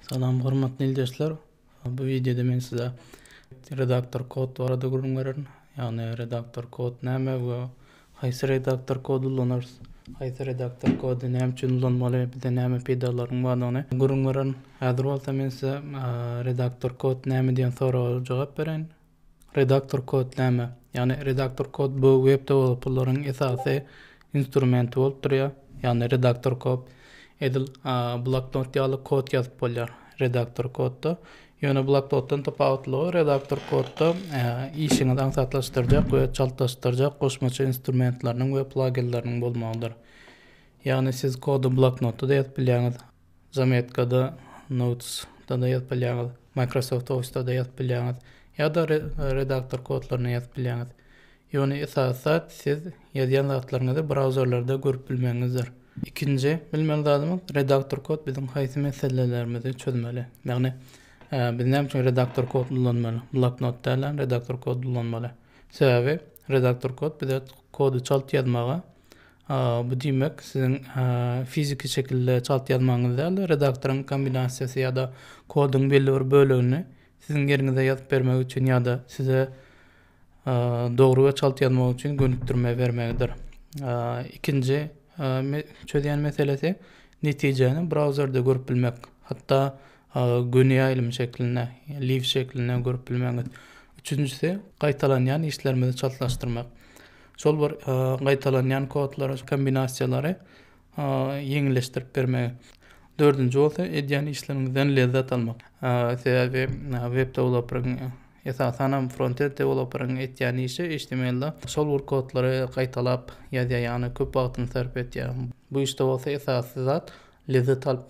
Salam hormatly ildeşler. Bu wideoda men size redaktor kod barada gürrüň bererin. Ýagny redaktor kod näme we haýsy redaktor kod ulanarys? Haýsy redaktor kody näme üçin ulanmaly? Bize näme peýdalaryň bardygyny gürrüň bererin. Häzir bolsa men size redaktor kod näme diýen soraga jogap bereýin. Redaktor kod näme? Ýagny redaktor kod bu web dewelopperleriň esasy instrumenti bolup durýar. Ýagny redaktor kod edil bloknot ýaly kod ýazyp bolýar redaktor kodda. Ýöne bloknotdan tapawutlygy redaktor kodda işiňizi aňsatlaşdyrjak we çaltlaşdyrjak goşmaça instrumentleriniň we plaginleriniň bolmagydyr. Ýagny siz kody bloknotda-da ýazyp bilýäňiz, Zametkada, Notesda-da ýazyp bilýäňiz, Microsoft Office-da-da ýazyp bilýäňiz ýa-da redaktor kodlaryna ýazyp bilýäňiz. Ýöne esasy zat siz ýazýan zatlaryňyzy brauzerlerde görüp bilmegiňizdir. Ikinji bilmeli zadymyz, redaktor kod biziň haýsy meselelerimizi çözmeli. Ýagny, biz näme üçin redaktor kod ulanmaly? Bloknot dälem redaktor kod ulanmaly. Sebäbi redaktor kod bize kody çalt ýazmaga, Bu diýmek, siziň fiziki şekilde çalt ýazmagyňyz däl-de, redaktoryň kombinasiýasy ýa-da koduň belli bir bölegini siziň ýeriňize ýazyp bermegi üçin ýa-da size dogry we çalt ýazmak üçin gönükdirme bermegidir. Ikinji çözýän meselesi netijäni brauzerde görüp bilmek, hatda göni ýaýlym şeklinde, live şeklinde görüp bilmegiňiz. Üçünjisi, gaýtalanýan işlerimizi çaltlaşdyrmak. Şol bir gaýtalanýan kodlary, kombinasiýalary ýeňilleşdirip bermegi. Dördünji bolsa edýän işleriňizden lezzet almak. Sebäbi web deweloperyň esasan hem frontend deweloperyň etýän işi HTML-de şol bir kodlary gaýtalap ýazýar, ýagny köp wagtyny sarp etýär. Bu işde bolsa esasy zat lezzet alyp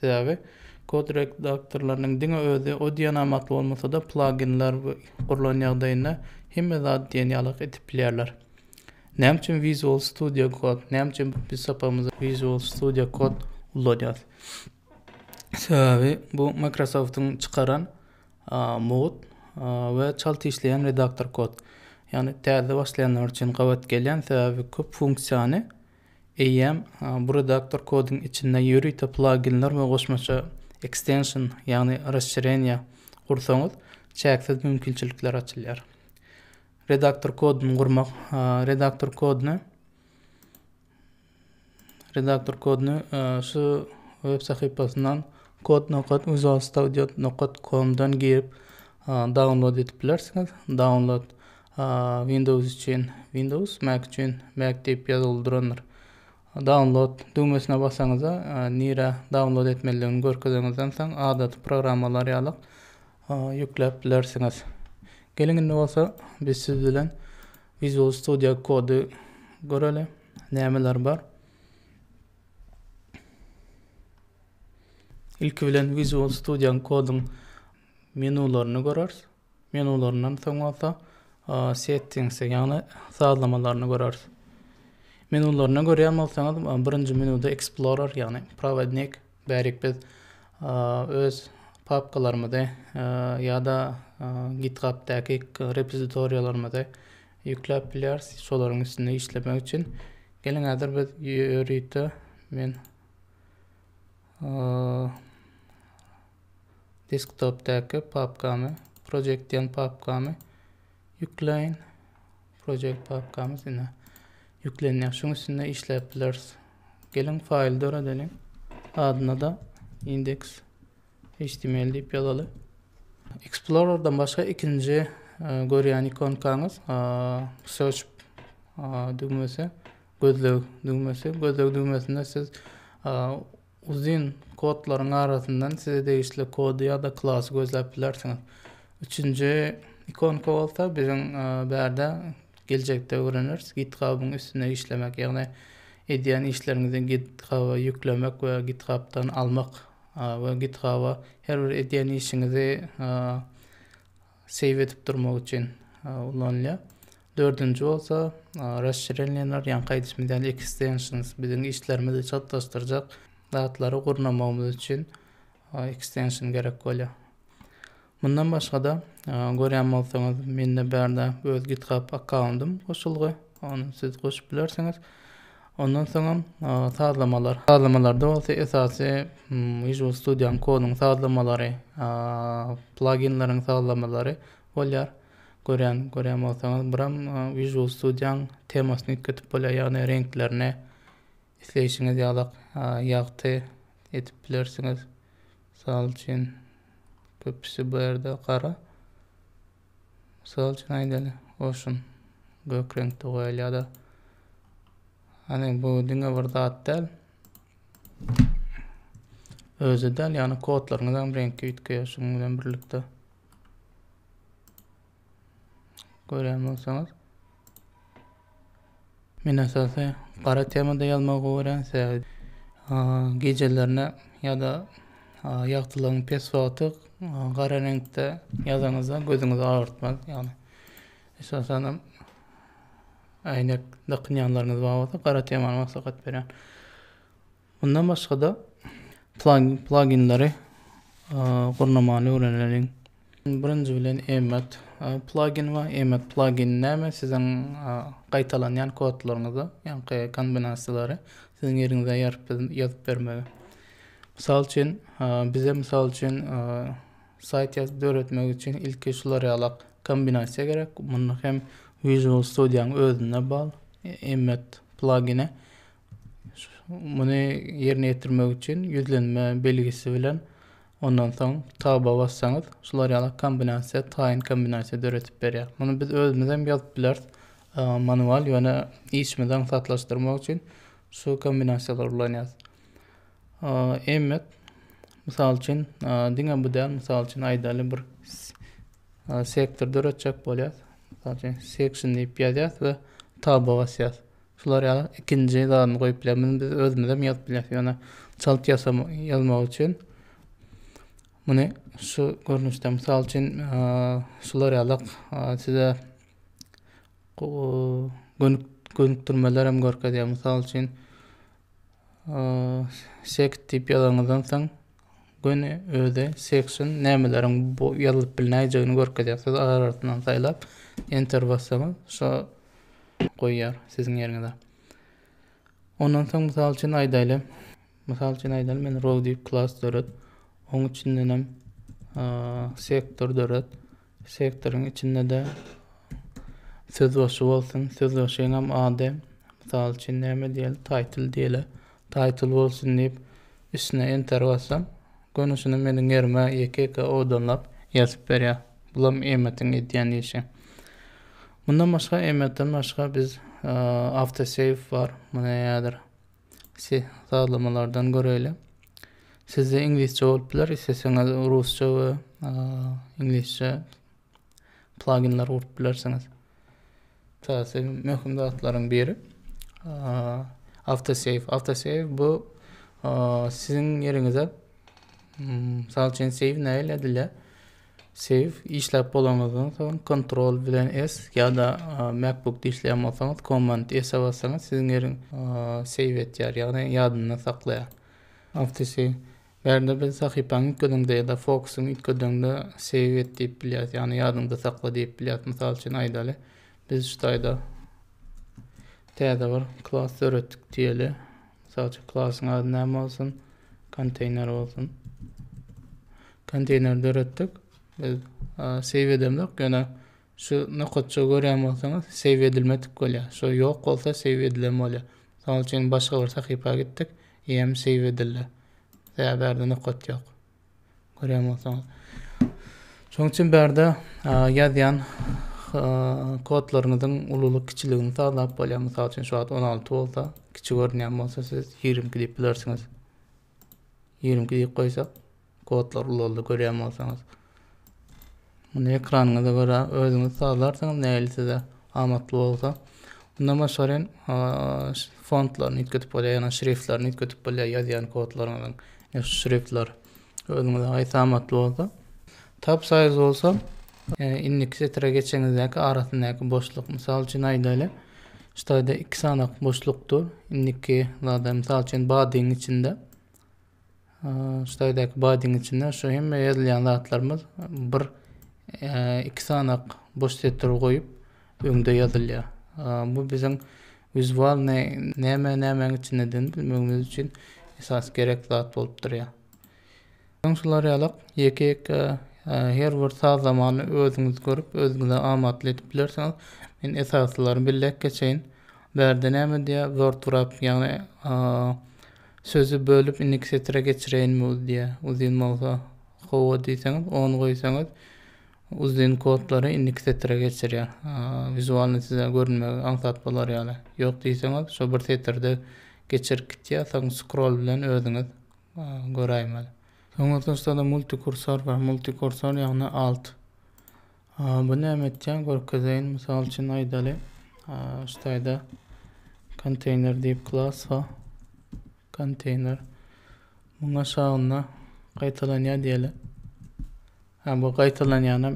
Sebäbi, kod redaktorlarynyň diňe özi o diýen amat bolmasa-da, plaginler gurlan ýagdaýynda hemme zady diýen ýalak edip bilýärler. Näme üçin Visual Studio Code? Näme üçin biz sapagymyzda Visual Studio Code ullanýarys? Sebäbi, bu Microsoft-yň çykaran mugt we çalt işleýän redaktor kod. Ýagny täze başlaýanlar üçin gabat gelýän, sebäbi köp funksiýany Eýýäm bu redaktor kodyň içinde ýörite plaginler we goşmaça ekstension, ýagny raşşireniýa, gursaňyz, çäksiz mümkinçilikler açylýar. Redaktor kodyny gurmak Redaktor kodyny Redaktor kodyny şu web sahypasyndan kod nokat visualstudio nokat komdan girip download edip bilersiňiz download Windows üçin Windows, Mac üçin Mac diýip ýazgyly durandyr. Download düwmesine basaňyzda, nirä download etmelidigini görkezeňizden soň, adaty programmalar ýaly ýükläp bilersiňiz. Geliň indi bolsa biz siz bilen Visual Studio Code göreli. Nämeler bar? Ilki bilen Visual Studio Code-yň menularyny görers. Menularyndan soň bolsa Settings'e, ýagny sazlamalaryna göreris. Menularyna görýän bolsaňyz, birinji menuda Explorer, ýagny prowodnik, bärik biz öz papkalarymyzy ýa-da GitHub'daky repozitoriýalarymyzy ýükläp bilýäris, şolaryň üstünde işlemek üçin. Geliň häzir biz ýörite men desktopdaky papkamy project diýen papkamy ýükleýin project papkamy sine ýüklenýär şuň üstünde işläp bileris geliň faýl döredeliň adyna da index html diýip ýazaly explorerdan başga ikinji e, görýän ikonkaňyz e, search düwmesi gözleg düwmesi gözleg düwmesinde siz Uzyn kodlaryň arasyndan size degişli kody ýa-da klasy gözläp bilersiňiz. Üçünji ikonka bolsa biziň e, bärde geljekde öwreneris GitHub-yň üstünde işlemek, ýagny edýän işleriňizi GitHub-a ýüklemek we GitHub-dan almak e, we GitHub-a her bir edýän işiňizi e, seýw edip durmak üçin ulanylýar. Dördünji bolsa Rasşirenýenler, ýaňky aýdyşymyz ýaly ekstenşns, biziň işlerimizi çaltlaşdyrjak zatlary gurnamagymyz üçin ekstenşn gerek bolýar. Mundan başga-da, görýän bolsaňyz, mende bärde öz GitHub akkauntym goşulgy, ony siz goşup bilersiňiz. Ondan soňam sazlamalar. Sazlamalarda bolsa esasy Visual Studio-nyň koduň sazlamalary, plaginleriň sazlamalary bolýar. Görýän, görýän bolsaňyz, buram Visual Studio-nyň temasyny üýtgetip bolýar, ýagny reňklerini isleýşiňiz ýalak ýagty edip bilersiňiz. Mysal üçin, köpüsi bu ýerde gara. Mysal üçin aýdaly, goşun gök reňkde goýalýar-da. Hany bu diňe bir zat däl. Özi däl, ýagny kodlaryňyzam reňki üýtgeýär şunuň bilen birlikde. Görýän bolsaňyz, Men esasy gara temada ýazmagy gowy görýän sebäbi gijelerine ýa-da ýagtylygyň pes wagty gara reňkde ýazanyňyzda gözüňizi agyrtmaz. Ýagny esasan hem äýnek dakynýanlaryňyz bar bolsa gara temany maslahat berýän. Mundan başga-da, pluginleri gurnamany öwreneliň. Birinji bilen emmet plugin we emmet plugin näme? Siziň gaýtalanýan kodlaryňyzy, ýaňky kombinasiýalary siziň ýeriňize ýazyp bermegi. Mysal üçin, bize mysal üçin saýt ýazyp döretmek üçin ilki şular ýalak kombinasiýa gerek. Muny hem Visual Studio-nyň özüne bag, emmet plugine Muny ýerine ýetirmek üçin ýüzlenme belgisi bilen ondan soň taba bassaňyz, şular ýaly kombinasiýa, taýyn kombinasiýa döredip berýär. Muny biz özümiz hem ýazyp bileris e, manual, ýöne işimizi aňsatlaşdyrmak üçin şu kombinasiýalary ulanýarys. Emmet, mysal üçin, diňe bu däl, mysal üçin aýdaly bir sektor döretjek bolýar. Mysal üçin section diýip ýazýas we taba basýas. Şular ýaly ikinji zadyny goýup biler. Muny biz özümizem ýazyp bileris. Ýöne çalt ýasam, ýazmak üçin muny şu görnüşde, mysal üçin, şular ýaly size gönük gönükdirmeler hem görkezýär. Mysal üçin, sekt diýip ýazanyňyzdan soň, Göni özi section nämeleriň bu ýazylyp bilnäýjegini görkezýär. Siz arasyndan saýlap enter bassaňyz şo goýýar siziň ýeriňize. Ondan soň mysal üçin aýdaýly. Mysal üçin aýdaýly men row diýip klas döret. Oň içinden hem sektor döret. Sektoryň içinde-de sözbaşy bolsun, sözbaşyňam ady, mysal üçin, näme diýeli, Taýtyl diýeli, Taýtyl bolsun diýip, üstüne Enter bassam, göni şuny meniň ýerime ýeke-ýeke owadanlap ýazyp berýär. Bulam Emmet-iň edýän işi. Mundan başga, Emmet-den başga biz AutoSave bar, muny häzir Sih sazlamalardan göreýle. Sizde iňlisçe bolup biler, isleseňiz rusça we iňlisçe pluginler gurup bilersiňiz. Täze möhüm zatlaryň biri autosave. Autosave bu siziň ýeriňize hmm, misal üçin save näil edilýär? Save işläp bolanyňyzdan soň Ctrl bilen S ýa-da MacBookda işleýän bolsaňyz Command S-e bassaňyz siziň ýeriň save etýär, ýagny ýadynda saklaýar. Awtosave. Bärde biz sahypany üýtgediňde ýa-da fokusyňy üýtgediňde save et diýip bilýäris, ýagny ýadyňda sakla diýip bilýäris. Mysal üçin aýdaly, biz şu taýda täze bir klas döretdik diýeli. Mysal üçin klasyň ady näme bolsun? Konteýner bolsun. Konteýner döretdik. Biz save edemizok, ýöne şu nokatça görýän bolsaňyz, save edilmedik bolýar. Şu ýok bolsa save edilen bolýar. Mysal üçin başga bir sahypa gitdik, hem save edildi. Sebäbi nokot ýok. Görýän bolsaňyz. Şonuň üçin bärde ýazýan kodlaryňyzyň ululyk kiçiligini sazlap bolýar. Mysal üçin şu wagt 16 bolsa, kiçi görünýän bolsa siz 22 diýip bilersiňiz. 22 diýip goýsak, kodlar ulaldy görýän bolsaňyz. Muny ekranyňyza görä özüňiz sazlarsyňyz nähili size amatly bolsa. Mundan başga hem fontlaryny üýtgedip bolýar, ýagny şriftlerini üýtgedip bolýar ýazýan kodlaryňyzyň. Şu şriftler özüňize haýsy amatly bolsa. Tab size bolsa indiki setire geçeniňizdäki arasyndaky boşluk. Mysal üçin aýdaýly, şu taýda iki sanak boşlukdyr. Indiki zada, mysal üçin, badyň içinde. Ştaýdaky badyň içinde şu hemme ýazylýan zatlarymyz bir iki sanak boş setir goýup öňde ýazylýar. Bu biziň wizual näme nämäň içindedini bilmegimiz üçin esas gerek zat bolup durýar. Soň şular ýalak ýeke ýeke her bir sazlamany özüňiz görüp özüňize amatly edip bilersiňiz. Men esasylaryny belläp geçeýin. Bärde näme diýýär? WordWrap ýagny Sözi bölüp indiki setire geçireýinmi uz diýä. Uzyn bolsa Hawa diýseňiz on goýsaňyz uzyn kodlary indiki setire geçirýär. Wizualny size görünmegi aňsat bolar ýaly. Ýok diýseňiz şo bir setirde geçirip gitýär soň scroll bilen özüňiz göräýmeli. Soň ortaçda-da multikursor bar. Multikursor ýagny alt. Bu näme etýär? Görkezeýin. Mysal üçin aýdaly, şu taýda container diýip klass bar. Container. Muň aşagynda gaýtalanýar diýeli. Ha bu gaýtalanýanam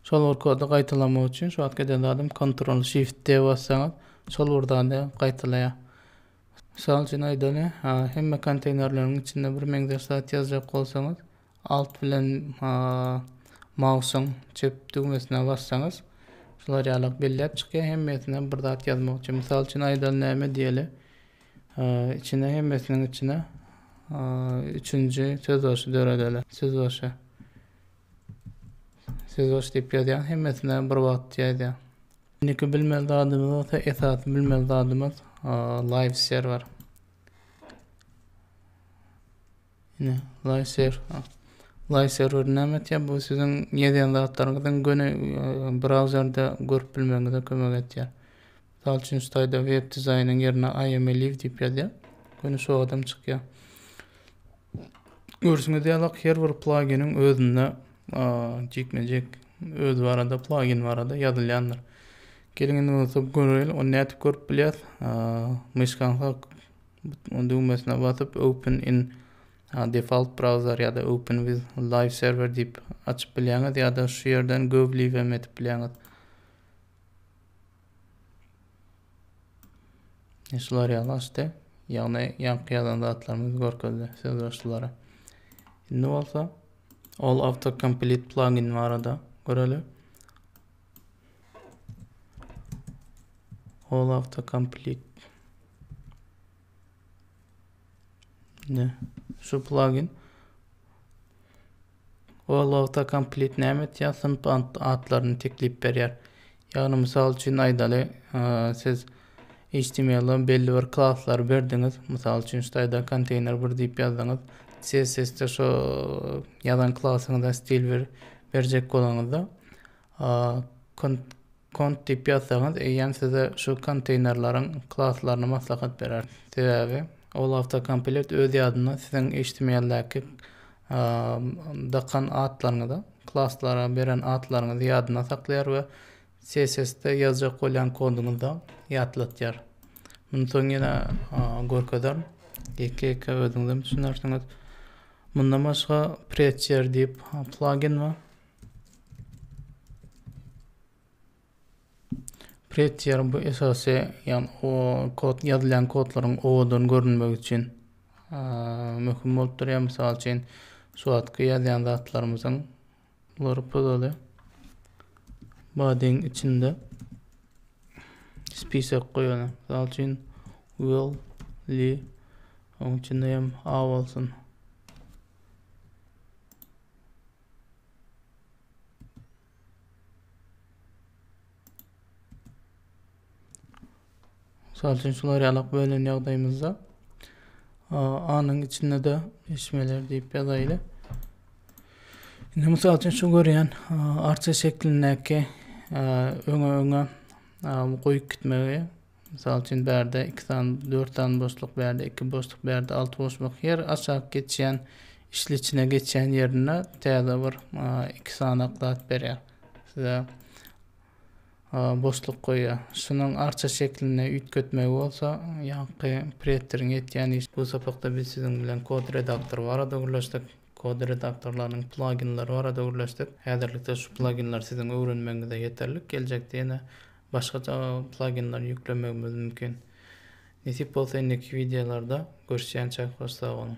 şol bir kody gaýtalamak üçin şu wagt eden zadym Ctrl Shift D bassaňyz şol bir zady gaýtalaýar. Mysal üçin aýdaly, hemme konteynerleriň içinde bir meňzeş zat ýazjak bolsaňyz, Alt bilen mausyň çep düwmesine bassaňyz, şular ýalak belläp çykýar. Hemmesine bir zat ýazmakçy. Mysal üçin aýdaly näme diýeli? Içine hemmesiniň içine üçünji sözbaşy döredeli. Sözbaşy. Sözbaşy diýip ýazýan hemmesine bir wagt ýazýar. Indiki bilmeli zadymyz bolsa esasy bilmeli zadymyz live server. Ine, Laýser. Laýser bir näme etýär? Bu siziň ýazýan zatlaryňyzyň göni e, brauzerde görüp bilmegiňize kömek edýär. Mysal üçin, şu taýda web dizaýnyň ýerine I am a live diýip ýazýar. Göni şu adam çykýar. Görşüňiz ýaly, her bir pluginiň özünde e, jikme-jik öz barada, plugin barada ýazylýandyr. Geliň indi bolsa göreýin, ony nädip görüp bilýäs? E, Myşkaňyza düwmesine basyp Open in default browser ýa-da Open with live server diýip açyp bilýäňiz ýa-da şu ýerden go live hem edip bilýäňiz. Şular ýaly açdy. Ýagny ýaňky ýazan zatlarymyzy görkezdi sözbaşylara. Indi bolsa all autocomplete plugin barada görelim. Ol autocomplete. Ne? Şu plugin. Ol autocomplete näme etýär? Synp atlaryny teklip berýär. Ýagny mysal üçin aýdaly, siz Html-a belli bir klaslary berdiňiz, mysal üçin staýda konteýner bir diýip ýazdyňyz, CSS-de şo ýazan klasyňyza stil bir berjek bolaňyzda, kont diýip ýazsaňyz, eýýäm size şu konteýnerleriň klaslaryny maslahat berer. Sebäbi ol awtokomplekt öz ýadynda siziň html-däki dakan atlaryňyzy, klaslara beren atlaryňyzy ýadynda saklaýar we CSS-de ýazjak bolýan koduňyzda ýatlatýar. Muny soň ýene görkezerin. Ýeke-ýeke özüňizem düşünersiňiz. Mundan başga Prettier diýip plugin bar. Prettier bu esasy, ýagny o kod ýazylýan kodlaryň owadan görünmegi üçin möhüm bolup durýar. Mysal üçin, şu wagtky ýazýan zatlarymyzyň Bular pygaly badyň içinde spisek goýana. Misal üçin will li oň içinde hem a bolsun. Misal üçin şular ýalak bölen ýagdaýymyzda A-nyň içinde-de eşmeler diýip ýazaýly. Indi mysal üçin şu görýän arça şeklindäki öňe öňe goýup gitmegi Mysal üçin bärde iki sany dört sany boşluk bärde iki boşluk bärde alty boşluk her aşak geçýän işli içine geçýän ýerinde täze bir iki sanak zat berýär size boşluk goýýar şunuň arça şeklinde üýtgetmegi bolsa ýaňky preteriň etýän işi bu sapakda biz siziň bilen kod redaktory barada gürleşdik kod redaktorlarynyň plaginleri barada gürleşdik häzirlikde şu plaginler siziň öwrenmegiňize ýeterlik geljekde ýene Başgaça plaginleri ýüklemegimiz mümkin. Nesip bolsa indiki wideolarda görüşýänçäk hoş sag boluň.